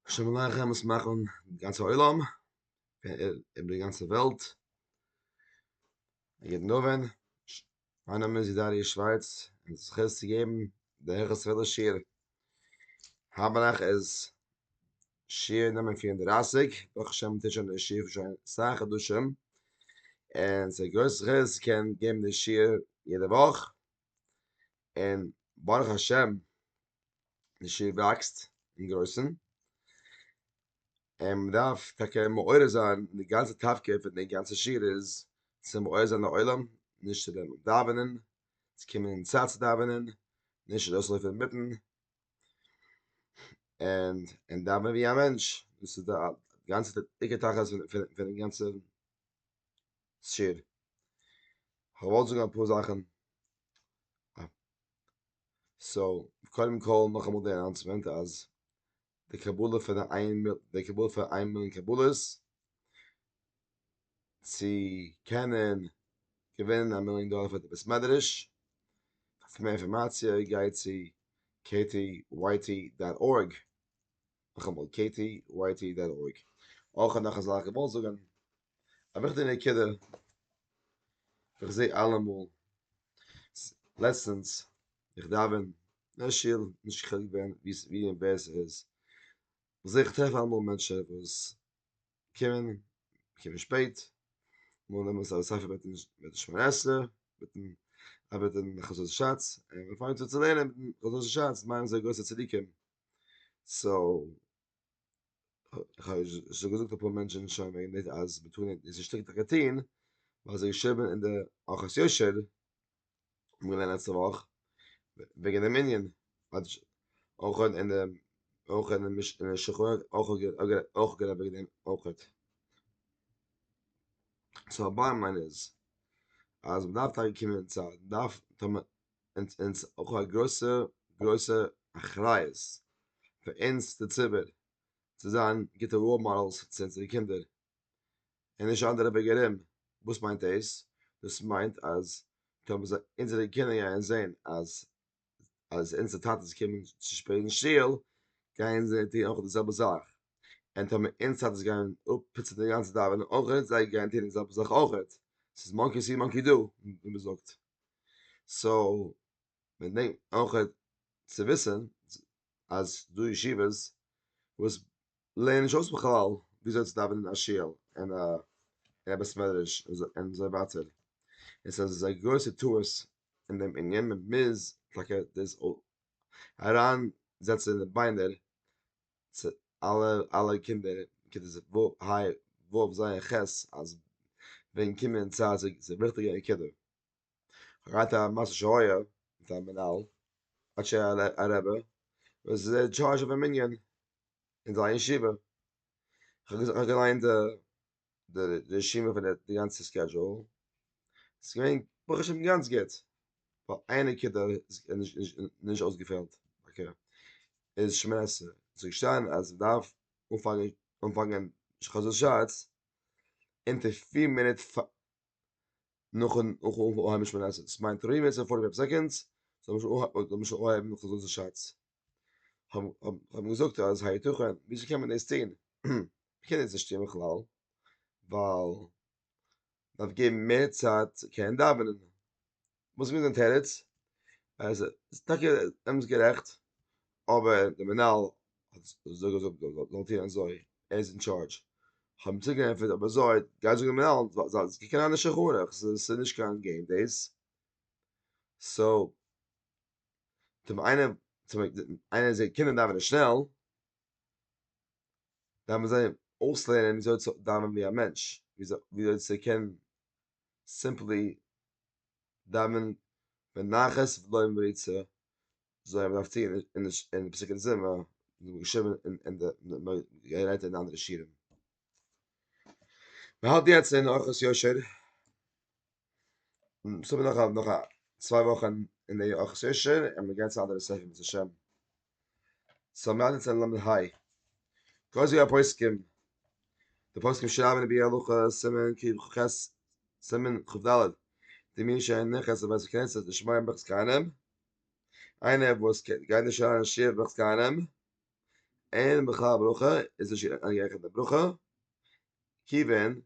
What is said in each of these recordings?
השם עליכם וואס מאכן די גאנצע עולם אין די גאנצע וועלט יעדן נובן מיין נאמען איז דארי שווייץ און זיך הערסט צו געבן דער העכער ספעדער שיר האבנאך איז שיר נאמען פיר און דרייסיג ברוך השם טוט שוין דער שיר שוין סאך חדשים און ס'איז גרויס זכות קען געבן די שיר יעדע וואך און ברוך השם די שול וואקסט אין גרויסן, און מען דארף טאקע מעורר זיין, די גאנצע תפקיד פון די גאנצע שול איז צו מעורר זיין די עולם, נישט צו וועלן דאווענען, צו קומען אין צייט צו דאווענען, נישט ארויסלויפן אינמיטן, און און דאווענען ווי א מענטש, דאס איז די גאנצע עיקר תכלית פון די גאנצע שער. איך וואלט זאגן אפאר זאכן. סאו, קודם כל נאכאמאל די אנאונסמענט אז די קבלה פון איין די קבלה פון איין מיליאן קבלות צו קענען געווינען א מיליאן דאלער פאר די בית מדרש. פאר מער אינפארמאציע גיי צו kty. dot. org. נאכאמאל קעיטי ווייטי דיין אויג אויך און נאך אזאלכע איך וואלט זאגן א וויכטיגע נקודה איך זעה אלעמאל לעצטענס איך דאווען אין שול נישט חילוק ווען ווי און ווער ס'איז איך זעה איך טרעף אלעמאל מענטשען וואס קומען קומען שפעט מאל נעמען זיי א ספר מיטן מיטן שמונה עשרה מיטן ארבעטן חזון שאץ און ווען מ'פאנגט אן צו לערנען חזון שאץ מיינען זיי גרויסע צדיקים סאו כ'האב שוין געזאגט אפאר מענטשן שוין וועגן דאס אז מען טאר נישט דאס איז שטריקטע כטין ווייל זיי שרייבן אין די ארחות יושר האבן געלערנט לעצטע וואך וועגן דעם ענין אויך אין די אויך אין די שולחן אויך גערעדט וועגן דעם אויך סאו באטעם ליין איז אז מען דארף טאקע קומען צו א דארף און אונז אויך א גרויסע גרויסע אחריות פאר אונז די ציבור צו זיין גוטע ראול מאדעלס צו אונזערע קינדער און נישט אנדערע וועג ארום, וואס מיינט דאס? דאס מיינט אז טאמער זיי אונזערע קינדער גייען זען אז אז אונזערע טאטעס קומען צו שפעט אין שול גייען זיי טון אויך די זעלבע זאך, און טאמער אונז טאטעס גייען אפפיצען די גאנצע דאווענען אויכעט זיי גייען טון די זעלבע זאך אויכעט, ס'איז מאנקי סי מאנקי דא ווי מ'זאגט. סאו מען דענק אויך צו וויסען אז דא ישיבות וואס לערנען נישט אויס בכלל וויאזוי צו דאווענען אין א שול אין א בית מדרש און אזוי ווייטער עס איז אזא גרויסע טעות אין דעם ענין מען מוז טאקע דאס אריין זעצען אין די ביינער צו אלע אלע קינדער כיתה ז' ו' היי וואף זייער חס אז ווען קומען צו אזא וויכטיגע נקודה גייט א מאסטער שהיה מיט א מנהל אדער א רבי וואס איז אין טשארזש אויפן מנין אין זיין ישיבה כ'האב געליינט די די רשימה פון די גאנצע סקעדזשועל, ס'איז געווען ברוך השם גאנץ גוט, נאר איין נקודה איז נישט אויסגעפעלט, אקעי, איז שמונה עשרה, ס'איז געשטאנען אז מ'דארף אנפאנגען חזות שץ אונטער פיר מינוט נאכן אנהייבן שמונה עשרה, דאס מיינט תרי מ איז פארטי פייוו סעקאנדס, זאל מען שוין אנהייבן חזות שץ, האבן געזאגט אז הייתכן, וויאזוי קען מען דאס טון? קען דאס נישט טון בכלל, ווייל דארף געבן מער צייט צו קענען דאווענען. וואס איז מיט די תירוץ? אז עס טאקע אמת גערעכט, אבער די מנהל האט אזוי געזאגט זאל מען טון אזוי, ער איז אין טשארדזש. האבן צוריק געענטפערט אבער אזוי, גיי זאג די מנהל זאל זיך קוקן אן די שולחן ערוך, עס איז נישט קיין געים דאס. סאו, טוב איינער, טוב איינער זעט קינדער דאווענען שנעל, דארף מען זיי אויסלערנען וויאזוי צו דאווענען ווי א מענטש, וויאזוי צו קענען סימפלי דאווענען בנחת ולא עם ריצה, זוי ווי מען דארף טון אין די פסוקי זמרה, געשריבען אין די גערעדט אין אנדערע שירים. מען האלט יעצט אין אורחות יושר, ס'איז אבער נאך א נאך א צוויי וואכן אין די אורחות יושר און מען גייט צו אנדערע ספר בעז השם, סאו מיר האלטן יעצט אין למד ה, קויז ווי א פוסקים, די פוסקים שרייבן אין ביאור הלכה סימן קי ח סימן קד, די מי שאין נכס לבית הכנסת לשמוע ברכת כהנים, איינער וואס גייט נישט אריין אין שיעור ברכת כהנים, אין בכלל ברכה איז נישט אריינגערעכנט די ברכה, כיוון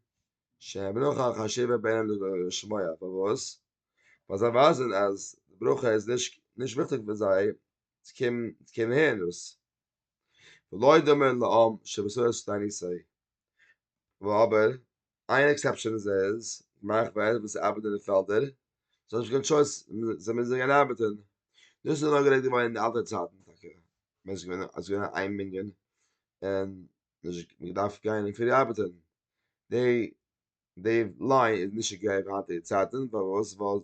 שהברכה חשובה בענין דשמיא, פארוואס? ווייל זיי ווייזען אז ברכה איז נישט נישט וויכטיג פאר זיי צו קומען צו קומען הערן דאס, ולא דומה לעם שבשערות תעניתי, אבער איין עקסעפשאן איז איז געמאכט פאר עלענד וואס ארבעט אין די פעלדער זיי האבן נישט קיין טשויס זיי מוזן גיין ארבעטען דאס איז נאר גערעדט געווארן אין די אלטע צייטן טאקע ווען עס איז געווען אז געווען איין מנין און נישט געדארפט גיין אין פרי ארבעטען די די ליין איז נישט אקעי אין היינטיגע צייטן פארוואס ווייל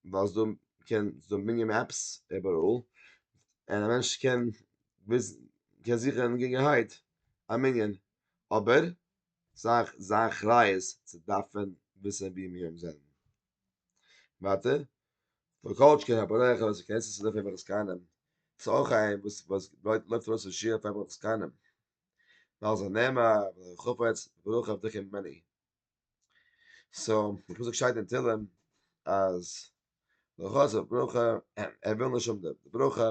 ווייל ס'דא קען ס'דא מנין מעפס איבעראל און א מענטש קען וויסן קען זיכען געגענהייט א מנין אבער זיין זיין אחריות צו דארפן וויסען ווי מיר זענען. ווייטער, וואס כל שכן א בורח וואס איז קענסט עס אויף עסקנים, איז אויך איין וואס וואס לויט לויפט ארויס פון שיעור אויף עסקנים, ווייל זיי נעמען א חפץ ברוך עבדך ממני. סאו, די פסוק שטייט אין תהלים אז די חפץ ברוך ער וויל נישט האבן די ברכה,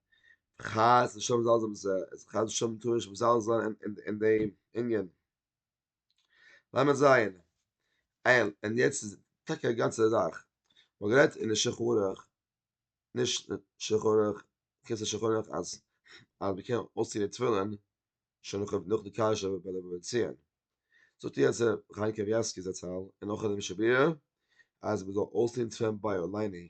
חז ל שום זאל זיין איז חז ל שום טויש וואס זאל זיין אין אין דעם ענין לאמיר זען אייל און יעצט איז טאקע א גאנצע זאך מ'האט גערעדט אין די שחרור נישט שחרור כסא שחרור אז אז מ'קען אויסציען די תפילין שוין נאך נאך די קאשע ביי די בבא מציעא זאגט איר אז חיים קניבסקי זצל און נאך די משביר אז מ'זאל אויסציען תפילין ביי עולייני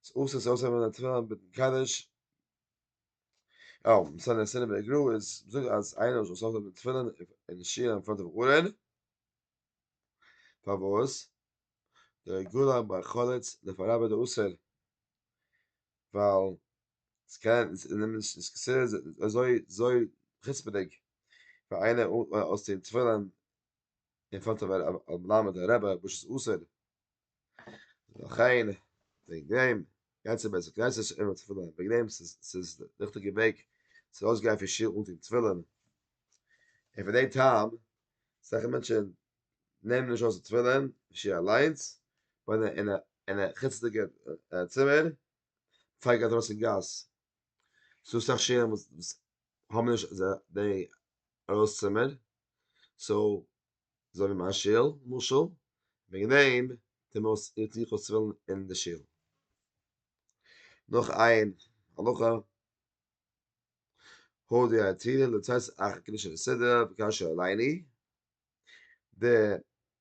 איז אסור צו אויסהייבן א תפילה מיטן קדיש. אויף מס' סיני בן גרא איז זאגט אז איינער זאל זאגן די תפילה אין שול אין פראנט פון ארון. פארוואס? דער גולה ביי חלץ דער פאר רבי דער אסור. ווייל עס קען עס איז נעמען נישט עס איז אזוי אזוי חוצפה'דיג פאר איינער אויסטוהן תפילין אין פראנט פון א מלמד א רבי וואס איז אסור. לכן, וועגן דעם, גאנצע בית הכנסת איז אימער צו פילן, וועגן דעם ס'איז די ריכטיגע וועג צו אויסגיין פון שול אן טון תפילין, און פון דעם טעם, אסאך מענטשן נעמען נישט אויס די תפילין אין שול אליינס, און אין א חוצות'דיגע צימער, פאר מ'גייט ארויס אין גאס, ס'איז דא אסאך שולן וואס האבן נישט די ארויס צימער, סאו אזוי ווי מיין שול, למשל, וועגן דעם טוה מען אויס איר תוכו תפילין אין די שול. נאך איין הלכה, הודיע התהילים לצאת אחר קדושי לסדר וקשה עליני, די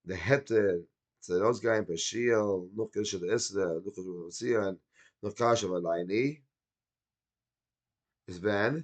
די היתר צו ארויסגיין פון שול נאך קדושי לסדר נאך חשבון און ציון נאך קשה ועליני, איז ווען?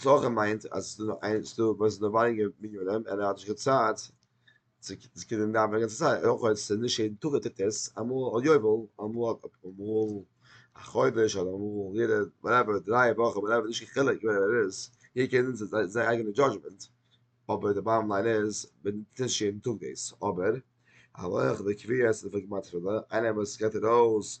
צלחה מיינט אז ס'איז דא איינס דא וואס איז דא ווייניגער מנינים און ער האט נישט קיין צייט צו קענען דאווענען די גאנצע צייט, אויך אויב ס'איז נישט יעדן טאג ער טוט עס, אמאל א יובל, אמאל א חודש, אדער אמאל יעדע וואטעווער דריי וואכן, וואטעווער נישט קיין חילוק ווער ער איז, יעדער קען נוצן זיין זיין אייגענע דזשאדזשמענט, אבער די באטעם ליין איז מען טוט נישט יעדן טאג דאס, אבער הלכה וקביעות איז דערפאר גמרא תחילה, איינער וואס גייט ארויס.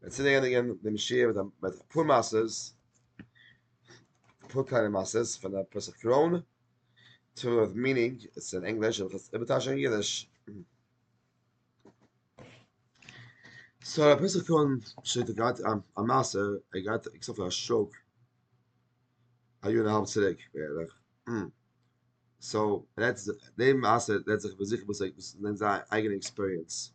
ווען צו דער ענדיגן דעם שיעור מיט מיט א פאר מעשה'ס פאר קליינע מעשה'ס פון דער פסח קרוין צו וואס מינינג איז אין ענגליש אבער איז איבערטייטשט אין אידיש סא דער פסח קרוין שליט א גייט א מעשה ער גייט עקסטער פאר א שוק א יאר און א האלב צוריק בערך סא רעדט דעם מעשה רעדט זיך איבער זיך וואס ער וואס איז זיין אייגענע עקספיריענס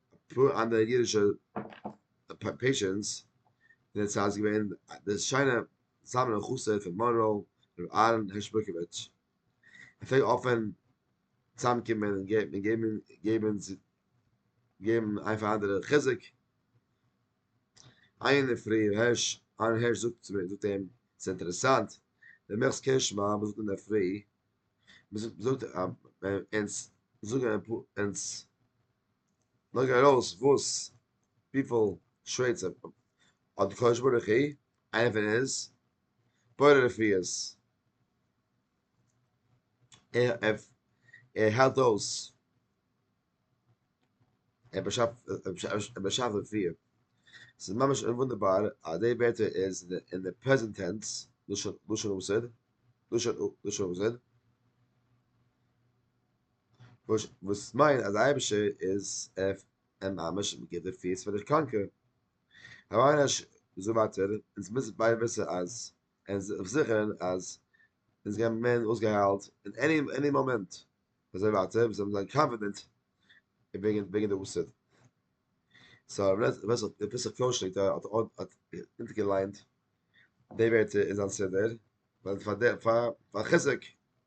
אפאר אנדערע אידישע פעישענטס אין דער צייט איז געווען דער שיינער זלמן און חסיד פון מאנרא ר' אהרן הערש בורקאוויטש ער פלעגט אפען צוזאמקומען און געבן געבן איין פאר אנדערע חיזוק איין אינדערפרי ר' אהרן הערש זאגט צו מיר זאגט אים ס'איז אינטערעסאנט דער מעכסט קען שמע וואס זאגט אינדערפרי מ'זאגט אונז זאגן אונז לייג ארויס וואס וויפיל שווערצער האט די קדוש ברוך הוא, איינער פון אונז, בורא רפואות, ער היילט אויס, ער באשאפט רפואה, ס'איז ממש וואונדערבאר אז די ווערטער איז אין די פרעזענט טענס, לשון המושג, לשון המושג, וואס וואס מיינט אז די אייבישטער איז ער ער ממש אין בגדר פיס פון דער קאנקער. הרב אש זאגט ווייטער, אונז מוזן ביידע וויסן אז און זיך זיכערן אז אונז גיימיר ווערן אויסגעהיילט אין עני עני מאמענט, אזוי ווייטער ווי זיי האבן זיין קאנפידענט וועגן וועגן די אסון. סא הרב נעס ווער ס'האט ר' פסח קאושניט האט האט האט אונטערגעליינט די ווערטער אין זיין סידור, ווייל פאר די פאר פאר חיזוק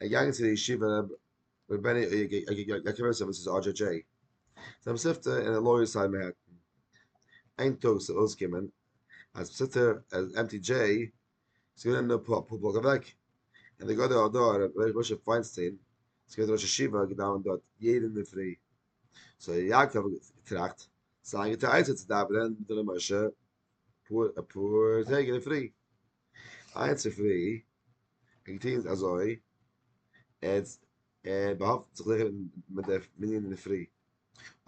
ער איז געגאנגען צו די ישיבה רב ר' בעני יאקאבעסער וואס איז אדזשע דזשעי זיין מספטע אין א לויער סייד מעהעטן איין טאג איז ארויסגעקומען אז מספטע אז עמטי דזשעי איז געווען נאר פאר אפאר בלאק אוועק און די גאדער אדא ר' משה פיינסטיין איז געווען ראש ישיבה געדאווענט דארט יעדע אינדערפרי סאו יעקב האט געטראכט זיין גוטע עצה צו דאווענען מיט ר' משה פאר א פאר טעג אין די פרי היינט צופרי האט געטון אזוי עטס ער באהאפט זיך זיכער מיט די מנין אין די פרי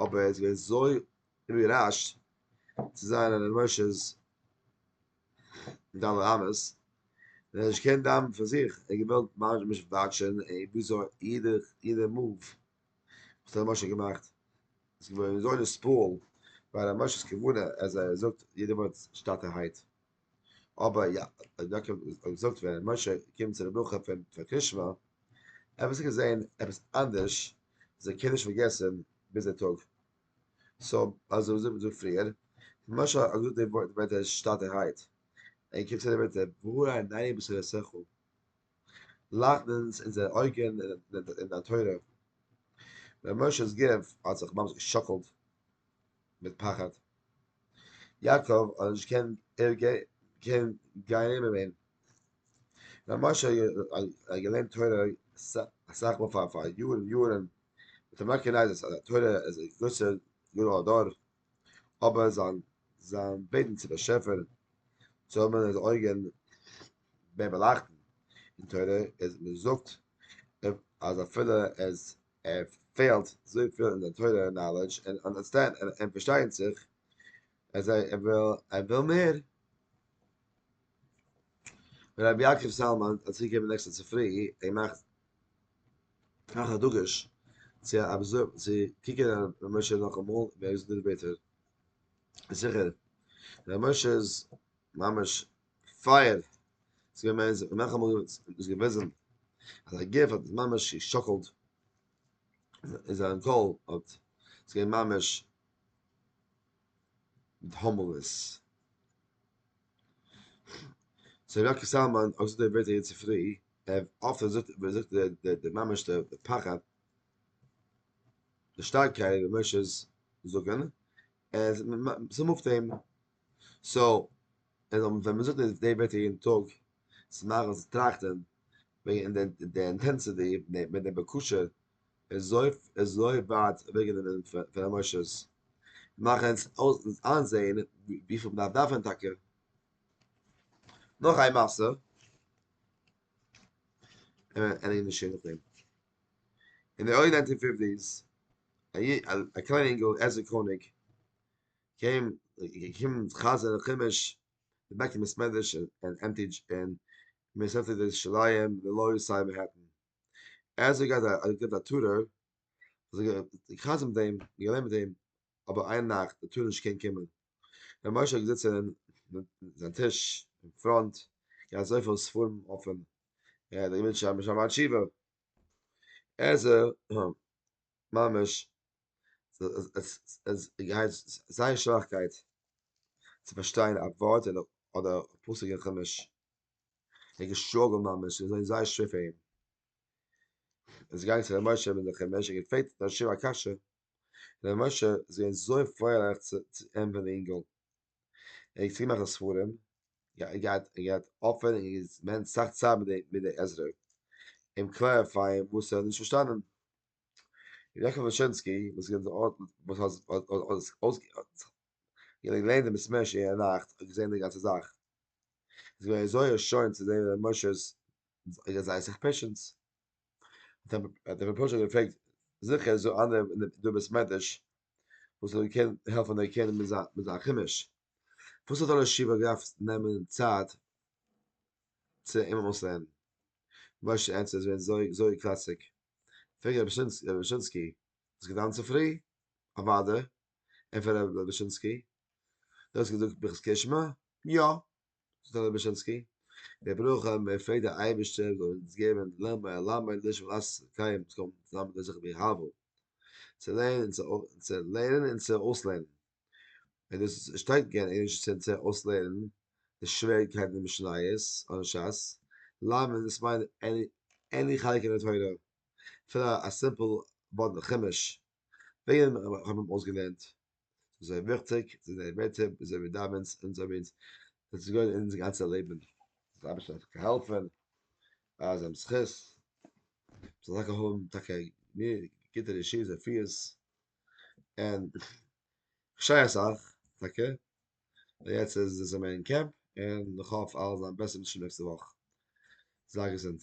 אבער ער איז געווען זוי איבערראשט צו זיין אין ר' משה'ס ד' אמות און ער האט נישט געקענט דאווענען פאר זיך ער האט געוואלט ממש וואטשען וויאזוי יעדע יעדע מאוו וואס האט ר' משה געמאכט? עס איז געווען אזוי נספוהל ביי ר' משה'ס כוונה אז ער זאגט יעדע ווארט שטאטערהייט. אבער יא, ר' יעקב האט געזאגט ווען ר' משה קומט צו די ברכה פון פאר קרישמע, ער האט עס געזען עפעס אנדערש, איז ער קעניש פארגעסן ביז די טאג. סא אז ער האט געזאגט די טאג פריער, ר' משה האט געזאגט די ווערטער שטאטערהייט, ער קומט צו די ווערטער והאר עינינו בשורות שכל. לייכטן אונז אונזערע אויגן אין דיין תורה. ר' משה'ס גוף האט זיך ממש געשאקלט מיט פחד. יעקב האט נישט געקענט גיין נעבן אים. ר' משה האט געלערנט תורה אסאך מאל פאר פאר יארן יארן, האט אים רעקאגנייזט אז א תורה איז א גרויסער גדול הדור, אבער זיין בעטן צום באשעפער צו האבן אונזערע אויגן בערל אכטן, אין תורה איז מען זאגט אז אפילו עס פעלט זויפיל אין די תורה נאלעדזש און אנדערסטענד און פארשטיין זיך אז ער וויל מער, ווען רבי יעקב סאלמאן האט צוריק געגעבן נעקסטע צופרי אים מאכט נאך א דגוש צו אבזער צו קוקען אויף רבי משה נאכאמאל ווי ער איז געזאגט בעטער זיכער רבי משה איז ממש פייער איז געווען מער זיך נאך אמאל איז געוויזן אז א גוף האט ממש געשאקלט איז זיין קול האט איז געווען ממש מיט האמלעס זיי ראקי סאלמאן אויס דער ווערט יעצט צופרי ער אפען זאגט ער זאגט דער דער דער ממש דער פחד דער שטארקייט ווען משה איז זאגן אז ס'מופט אים, סאו ווען מ'זאגט אז די ווערטער יעדן טאג, צו מאכן זיך טראכטען וועגן די אינטענסיטי מיט די בקשה איז אזוי ווייט אוועקגענומען פון עמאושענס, מאכן אונז איינזעהן וויפיל מ'דארף דאווענען טאקע. נאך איין מעשה, ענין איז שוין נאכדעם. אין די ערלי ניינטין פיפטיס א קליינע אינגעל עזרא קאניג קען געקומען חזר'ן חומש די בית המסמדרש אין עם טי דזשי אין מרסעטע ירושלים אין לאו איסט סייד מענהעטן עזרא גייט א געט א טורער זיך געחזר'ן מיט אים געלערנט מיט אים אבער איין נאכט ער טאר נישט קען קומען רבי משה האט געזיצן אין זיין טיש אין פראנט געהאט אזויפיל ספרים אפען ער האט געוואלט שרייבן שם התשובה עזר ממש עס גייט זייער שוואכקייט צו פארשטיין א ווארט אדער א פסוק אין חומש ער געשטראגלט ממש עס איז זייער שווער פאר אים עס איז געגאנגען צו רבי משה מיט די חומש ער האט געפרעגט די שועה א קשיא רבי משה איז געווען זוי פרייליך צו אים ווען די אינגעל ער האט געצויגן מאכן ספרים ער געהאט ער געהאט אפען און געספענד סאך צייט מיט די מיט די עזרה אים קלעריפייען וואס ער האט נישט פארשטאנען רבי יעקב וואשענסקי וואס איז וואס האט האט האט אויס געלערנט די מסמר ש אינערנאכט האט געזען די גאנצע זאך איז געווען זוי ערשוינט צו זען רבי משה'ס זייער סאך פעשענס. האט ער פשוט געפרעגט זיכער איז דא אנדערע אין דער בית מדרש וואס זאל קענען העלפן ערקענען מיט זיין מיט זיין חומש וואס האט אלע שיעור געדארפט נעמען צייט צו אים אויסלערנען משה ענטפערט עס ווערט זוי זוי קלאסיג פרעגט רבי דושינסקי האסט געדאוונט צופרי? אוודאי ענטפערט רבי דושינסקי דו האסט געזאגט ברכת קרישמע? יא זאגט הרב בשינסקי, דער ברוך ה בעפעלט דער אייבערשטער זאל אונז געבן לעמבע ע ל מיט לישב ע ל קיים צו קומען צוזאמען דער זכר ביי הבל צו לערנען און צו לערנען און צו אויסלערנען און דאס איז שטארק געווען ערשט צו אונז צו אויסלערנען די שוועריגקייטן אין משניות און ש ס לערנען דאס מיינען עני חלק אין די תורה אפילו א סימפל ווארט אין חומש וועגן דעם האבן מיר אויסגעלערנט. ס'איז אזוי וויכטיג, זיי זענען מתים, און זיי ווי דאווענס, און זיי ווי אונז, זיי געווען אונזער גאנצע לעבן, די אייבערשטער האט געהאלפן, אז זיי האבן זכות, זיי זאלן טאקע האבן טאקע גוטע רשות רפואית, און כ'שריי אסאך, טאקע, און יעצט איז זיי זענען אין קעמפ, און כ'האף אלעס זאל זיין בעסער ווי די נעקסטע וואך, זיי געזונט.